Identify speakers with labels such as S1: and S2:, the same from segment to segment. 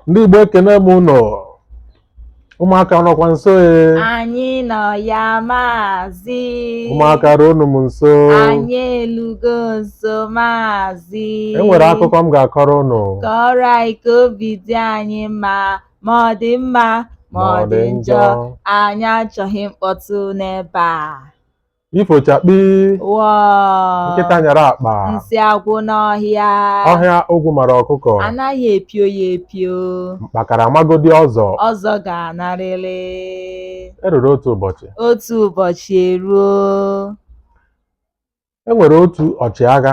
S1: ndị Igbo ekene m unu ụmụaka nọkwa nso e anyị
S2: nọ ya maazị ụmụaka
S1: ruonụ m nso anyị
S2: elugo nso maazị e nwere
S1: akụkọ m ga-akọrọ unu kọọrọ anyị
S2: ka obi dị anyị mma ma ọ dị mma ma ọ dị njọ anyị achọghị mkpọtụ n'ebe a ifo
S1: chakpii
S2: wọ nkịta nyara
S1: akpa nsị
S2: agwụ n'ọhịa ọhịa
S1: ogwu mara ọkụkọ anaghị epio ya
S2: epio mkpakara
S1: magodi ọzọ ọzọ ga-anarịrị eruru otu ụbọchị otu
S2: ụbọchị
S1: eruo e nwere otu ọchịagha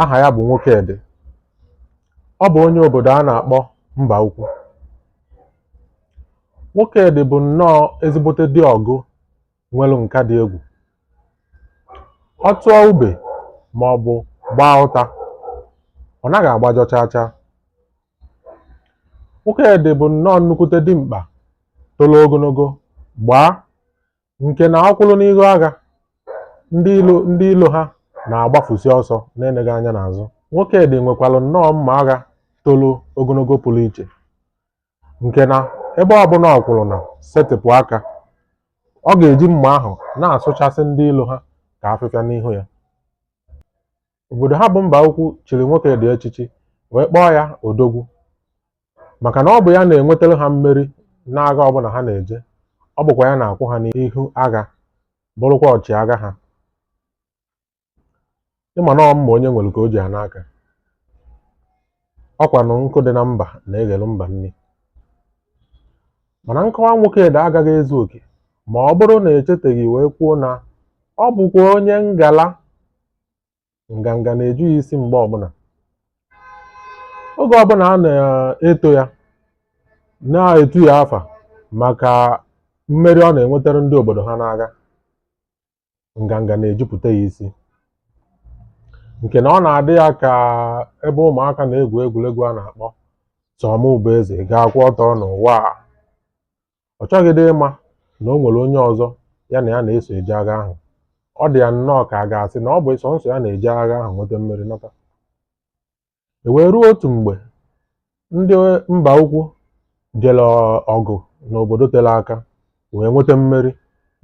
S1: aha ya bụ Nwokedị ọ bụ onye obodo a na-akpọ mba ukwu Nwokedị bụ nnọọ ezigbote di ọgụ nwere nka dị egwu. Ọ tụọ ube ma ọ bụ gbaa ụta, ọ naghị agbajọ chaa chaa. Nwokedị bụ nnọọ nnukwute dimkpa tolo ogonogo, gbaa nke na ọ kwụrụ n'ihu agha ndị ilo ha na-agbafusi ọsọ na-eneghị anya n'azụ Nwokedị nwekwara nnọọ mma agha tolo ogonogo pụrụ iche nke na ebe ọbụla ọ kwụrụ na setịpụ aka ọ ga-eji mma ahụ na-asụchasị ndị ilo ha ka afịfịa n'ihu ya obodo ha bụ mba ukwu chiri Nwokedị echichi wee kpọọ ya odogwu maka na ọ bụ ya na-enwetara ha mmeri n'agha ọbụla ha na-eje ọ bụkwa ya na-akwụ ha n'ihu agha bụrụkwa ọchịagha ha ị ma na ọ mma onye nwere ka o ji ana aka ọ kwanụ nkụ dị na mba na-eghelu mba nri mana nkọwa Nwokedị agaghị ezu oke ma ọ bụrụ na e cheteghị wee kwuo na ọ bụkwa onye ngala nganga na-eju ya isi mgbe ọbụla oge ọbụla a na-eto ya na-etu ya afa maka mmeri ọ na-enwetara ndị obodo ha n'agha nganga na-ejupụta ya isi nke na ọ na-adị ya ka ebe ụmụaka na-egwu egwuregwu a na-akpọ sọ mụ bụ eze ga-akwụ ọtọ n'ụwa a Ọ chọghịdị ịma na o nwere onye ọzọ ya na ya na-eso eje agha ahụ. Ọ dị ya nnọọ ka a ga-asị na ọ bụ sọnsọ ya na-eje agha ahụ nweta mmeri nata. E wee ruo otu mgbe ndị mba ukwu jere ọgụ n'obodo tere aka wee nweta mmeri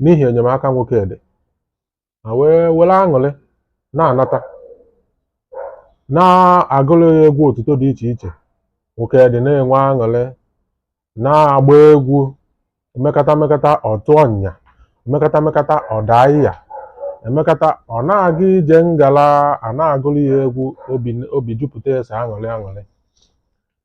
S1: n'ihi enyemaka Nwokedị. ha wee were aṅụrị na-anata na-agụrụ ya egwu otuto dị iche iche nwokedi na-enwe aṅụrị na-agba egwu emekata emekata ọ tụọ ọnya emekata emekata ọ daa ịya emekata ọ na-aga ije ngala a na-agụrụ ya egwu obi obi jupụta ya sọ aṅụrị aṅụrị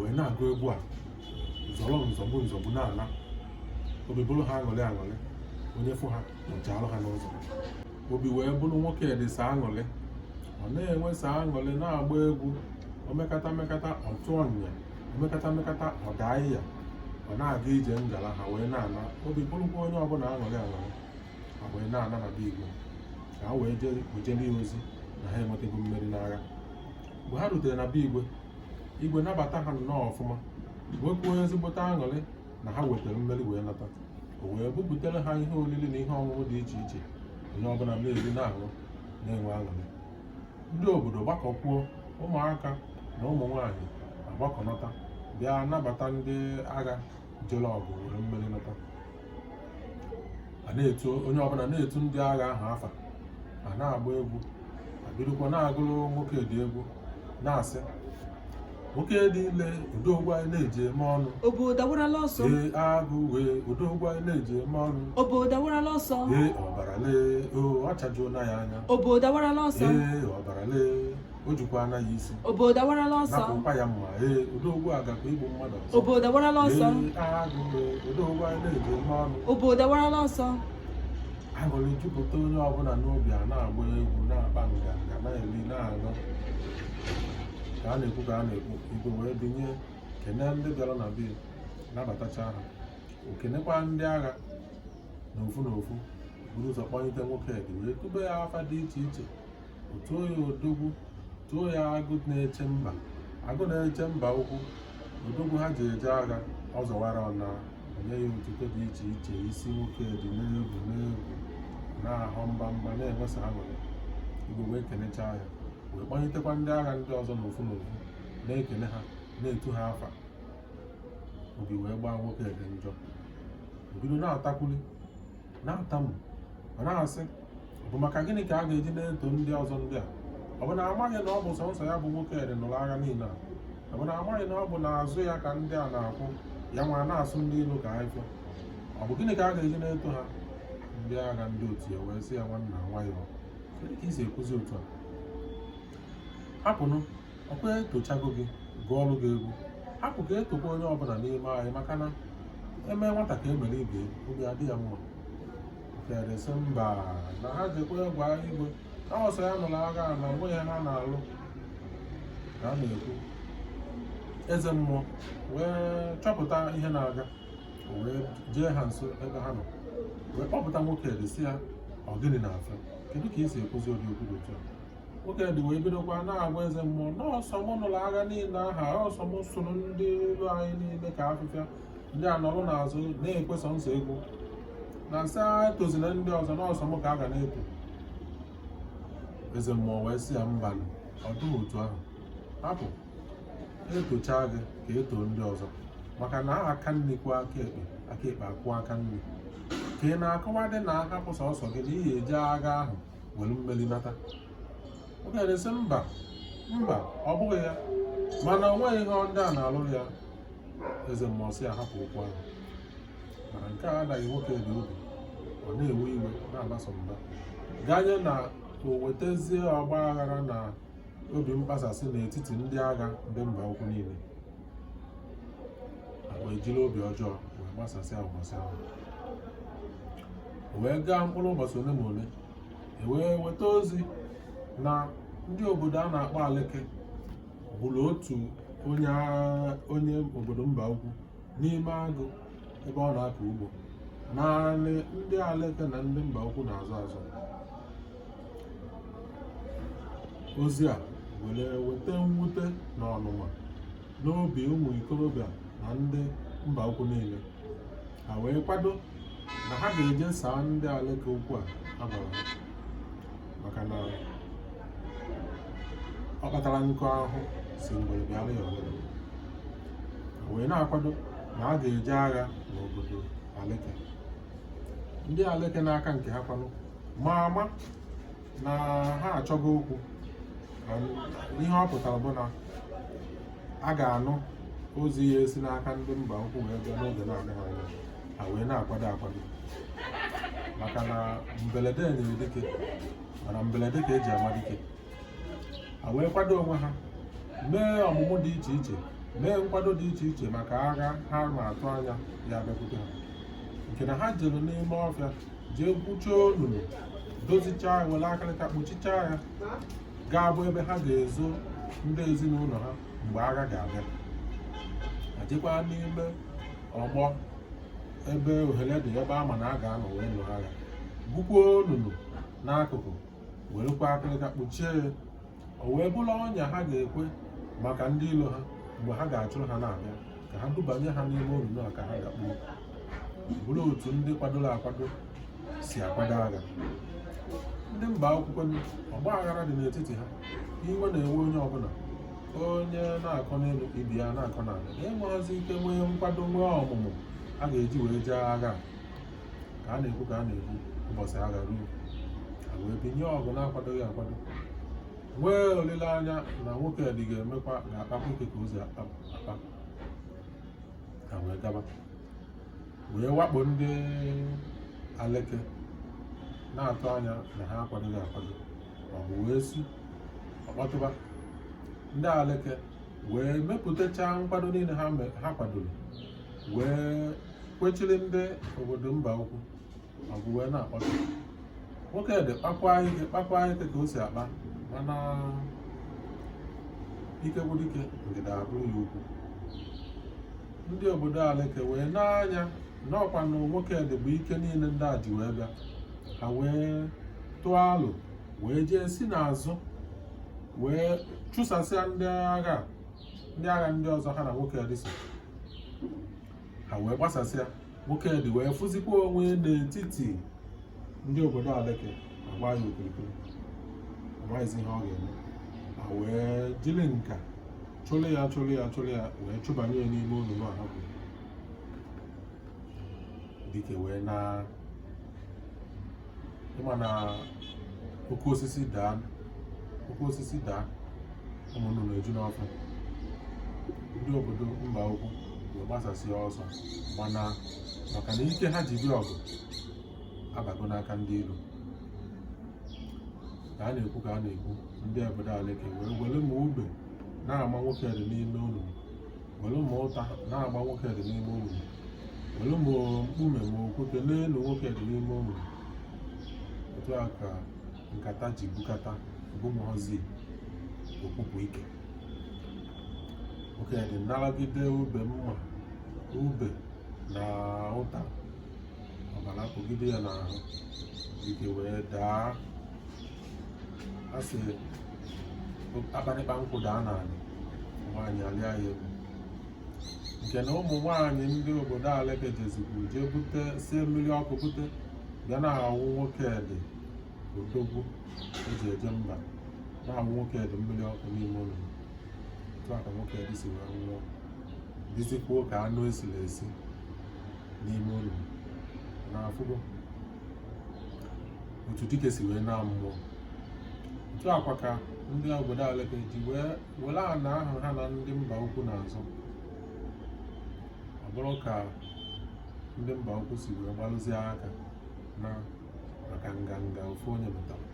S1: wee na-agụ egwu a zọrọ nzọgbu nzọgbu na-ala obi bụrụ ha aṅụrị aṅụrị onye fụ ha ọ chaalụ ha n'ụzọ obi wee bụrụ nwokedi sọ aṅụrị ọ na-enwe sọ aṅụrị na-agba egwu o mekata mekata ọ tụọ ọnya o mekata mekata ọ daa ịya ọ na-aga ije ngala ha wee na-ana obi bụrụkwa onye ọbụla aṅụrị aṅụrị ha wee na-ana na be igwe ka ha wee jee zie ya ozi na ha enwetago mmeri n'agha mgbe ha rutere na be igwe igwe nabata ha nnọọ ọfụma nwekwuo ezigbote aṅụrị na ha wetara mmeri wee nata o wee bupụtara ha ihe oriri na ihe ọṅụṅụ dị iche iche onye ọbụla na-eri na-aṅụ na-enwe aṅụrị ndị obodo gbakọkwuo ụmụaka na ụmụ nwaanyị agbakọnata bịa nabata ndị agha jere ọgụ were mmeri nata a na-etu onye ọbụla na-etu ndị agha ahụ afa a na-agba egwu e bidokwa na-agụrụ nwokedi egwu na-asị nwokedi lee odogwu anyị na-eji eme ọnụ obodo awarala
S2: ọsọ ee agụ
S1: wee odogwu anyị na-eji eme ọnụ obodo awarala ọsọ
S2: ee ọbara lee
S1: o ọ chajuona ya anya obodo awarala ọsọ
S2: ee ọbara lee
S1: o jikwana ya isi obodo
S2: awarala ọsọ nakwa ya mma
S1: ee odogwu a gakwa igbu mmadụ ọzọ obodo awarala ọsọ odogwu anyị na-eji eme ọnụ obodo awarala ọsọ aṅụrị jupụta onye ọbụla n'obi a na-agba egwu na-akpa nganga na-eri na-aṅụ ka a na-ekwu ka a na-ekwu igwe wee binye kene ndị bịara na be nabatacha ha o kenekwa ndị agha n'ofu n'ofu buru ụzọ kpọlite nwokedi wee tube ya afa dị iche iche tuo ya odogwu tuo ya agụ na-eche mba agụ na-eche mba ukwu odogwu ha ji eje agha ọ zọwara ọna o nye ya otuto dị iche iche isi nwokedi na-ebu na-ebu na-ahọ mba mba na-enwe sọ aṅụrị igwe wee kenechaa ya wee kpọnyitekwa ndị agha ndị ọzọ n'ofu n'ofu na-ekene ha na-etu ha afa obi wee gbaa nwokedi njọ o bido na-atakwuli na-atamu ma na-asị ọ bụ maka gịnị ka a ga-eji na-eto ndị ọzọ ndị a ọ bụ na a maghị na ọ bụ sọnsọ ya bụ nwokedi nụrụ agha niile a ọ bụ na a maghị na ọ bụ n'azụ ya ka ndị a na-akwụ ya nwa na-asụ ndị ilo ka afịfịa ọ bụ gịnị ka a ga-eji na-eto ha ndị agha ndị otu ya wee sị ya nwanna nwayọọ ka i si ekwuzi otu a hapụnụ ọkwa etochago gị gụọrọ gị egwu hapụ ka etokwa onye ọbụla n'ime anyị maka na eme nwata ka emere ibe obi adị ya mma nwokedi sị mba na ha jekwa gwa igwe na ọ sọ ya nụrụ agha na o nweghị ihe ha na-alụ ka a na-ekwu eze mmụọ wee chọpụta ihe na-aga wee jee ha nso ebe ha nọ wee kpọpụta nwokedi sị ya ọ gịnị na-afịa kedu ka ị si ekwuzi ụdị okwu dị otu a nwokedi wee bidokwa na-agwa eze mmụọ na ọ sọ m nụrụ agha niile ahụ ọ sọ m sụrụ ndị ilo anyị niile ka afịfịa ndị a nọrọ n'azụ na-ekwe sọsọ egwu na m sị etozina ndị ọzọ na ọ sọ m ka a ga na-eto eze mmụọ wee sị ya mba ọ dịghị otu ahụ hapụ etocha gị ka e too ndị ọzọ maka na aka nri kwọọ aka ekpe aka ekpe akwọọ aka nri ka ị na-akọwadị na a hapụ sọsọ gị na ị ya-eje agha ahụ were mmeri nata nwokedi sị mba mba ọ bụghị ya mana o nweghị ihe ndị a na-alụrụ ya eze mmụọ sị ya hapụ okwu ahụ mana nke a adaghị nwokedi obi ọ na-ewe iwe na-aba sọ mba ganye na o wetazie ọgba aghara na obi mkpasasị n'etiti ndị agha ndị mba ukwu niile wee jiri obi ọjọọ wee gbasasịa ụbọchị ahụ wee gaa mkpụrụ ụbọchị ole ma ole e wee weta ozi na ndị obodo a na-akpọ aleke gburu otu onye obodo mba ukwu n'ime agụ ebe ọ na-akọ ugbo n'anị ndị aleke na ndị mba ukwu na-azọ azọ ozi a were weta mwute na ọnụma n'obi ụmụ ikorobịa na ndị mba ukwu niile ha wee kwado na ha ga-eje saa ndị aleke okwu a ha gwara ha maka na ọ kpatara nkụ ahụhụ sị ngwere bịara ya oriri ha wee na-akwado na a ga-eje agha n'obodo aleke ndị aleke n'aka nke ha kwanụ ma ama na ha achọgo okwu ihe ọ pụtara bụ na a ga-anụ ozi ya-esi n'aka ndị mba ukwu wee bịa n'oge na-adịghị anya ha wee na-akwado akwado maka na mberede nyịrị dike mana mberede ka eji ama dike ha wee kwado onwe ha mee ọmụmụ dị iche iche mee nkwado dị iche iche maka agha ha na-atụ anya ya-abịakwute ha nke na ha jere n'ime ọfịa jee gwuchaa onunu dozichaa ya were akịrịka kpuchichaa ya ga-abụ ebe ha ga-ezo ndị ezinụlọ ha mgbe agha ga-abịa ha jekwaa n'ime ọgbọ ebe ohere dị ebe a ma na a ga-anọ wee lụọ agha gwukwuo onunu n'akụkụ werekwa akịrịka kpuchie ya o wee bụrụ ọnya ha ga-ekwe maka ndị ilo ha mgbe ha ga-achụrụ ha na-abịa ka ha dubanye ha n'ime olulu a ka ha dakpuo bụrụ otu ndị kwadoro akwado si akwado agha ndị mba ukwu kwanụ ọgba aghara dị n'etiti ha iwe na-ewe onye ọbụla onye na-akọ n'elu ibe ya na-akọ n'ala enweghịzi ike nwee nkwado nwee ọmụmụ ha ga-eji wee jee agha ka a na-ekwu ka a na-ekwu ụbọchị agha ruo ha wee binye ọgụ na-akwadoghị akwado nwee olileanya na nwokedi ga-emekwa ga-akpakwa ike ka o si akpa ha wee gaba wee wakpo ndị aleke na-atụ anya na ha akwadoghị akwado ma ọgụ wee si ọ kpọtụba ndị aleke wee mepụtachaa nkwado niile ha kwadoro wee kwechiri ndị obodo mba ukwu ma ọgụ wee na-akpọtụ nwokedi kpakwa ike kpakwa ike ka o si akpa mana ike gwụ dike ndịda abụrụ ya ugwu ndị obodo aleke wee lee anya na ọ kwanụ nwokedi bụ ike niile ndị a ji wee bịa ha wee tụọ alo wee jee si n'azụ wee chụsasịa ndị agha ndị agha ndị ọzọ ha na nwokedi so ha wee gbasasịa nwokedi wee fụzikwa onwe n'etiti ndị obodo aleke agbaa ya okirikiri amaghịzi ihe ọ ga-eme ha wee jiri nka chụlụ ya chụlụ ya chụlụ ya wee chụbanye ya n'ime olulu ahụ dike wee na ị ma na oke osisi daa oke osisi daa ụmụ nnụnụ eju n'ọfịa ndị obodo mba ukwu wee gbasasịa ọsọ mana maka na ike ha ji bịa ọgụ abago n'aka ndị iro ka a na-ekwu ka a na-ekwu ndị obodo aleke wee were ma ube na-agba nwokedi n'ime olulu were ma ụta na-agba nwokedi n'ime olulu were ma mkpume ma okwute na-elu nwokedi n'ime olulu otu a ka nkata ji bukata ọbụmọzi o kpupu ike nwokedi naragide ube ma ube na ụta ọbara kpụgide ya n'ahụ dike wee daa a sị akparịkpa nkwụ daa n'ala nwaanyị alịa ya elu nke na ụmụ nwaanyị ndị obodo Aleke jezikwu jee bute sie mmiri ọkụ bute bịa na-awụ Nwokedi odogwu eji eje mba na-awụ Nwokedi mmiri ọkụ n'ime olulu otu a ka Nwokedi si wee nwụọ dịzikwuo ka anụ esiri esi n'ime olulu na afụgo otu dike si wee naa mmụọ otu a kwa ka ndị obodo Aleke ji wee were ana ahụ ha na ndị mba ukwu na-azọ ọ bụrụ ka ndị mba ukwu si wee gbalụzie aka na maka nganga ofu onye metara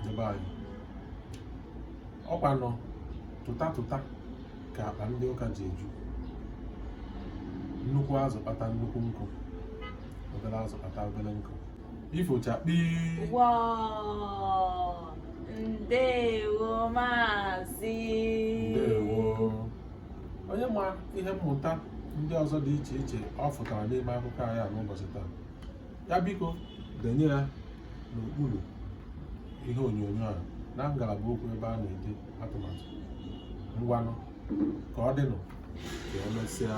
S1: ebe anyị ọkwanụ tụta tụta ka akpa ndị ụka ji eju nnukwu azụ kpata nnukwu nkụ obere azụ kpata obere nkụ ifochakpii Wow!
S2: Ndewo maazị. ndewo
S1: onye ma ihe mmụta ndị ọzọ dị iche iche ọ fụtara n'ime akụkọ anyị a n'ụbọchị taa ya biko denye ya n'okpuru ihe onyonyo a na ngalaba okwu ebe a na-ede atụmatụ ngwanụ ka ọ dịnụ ka emesịa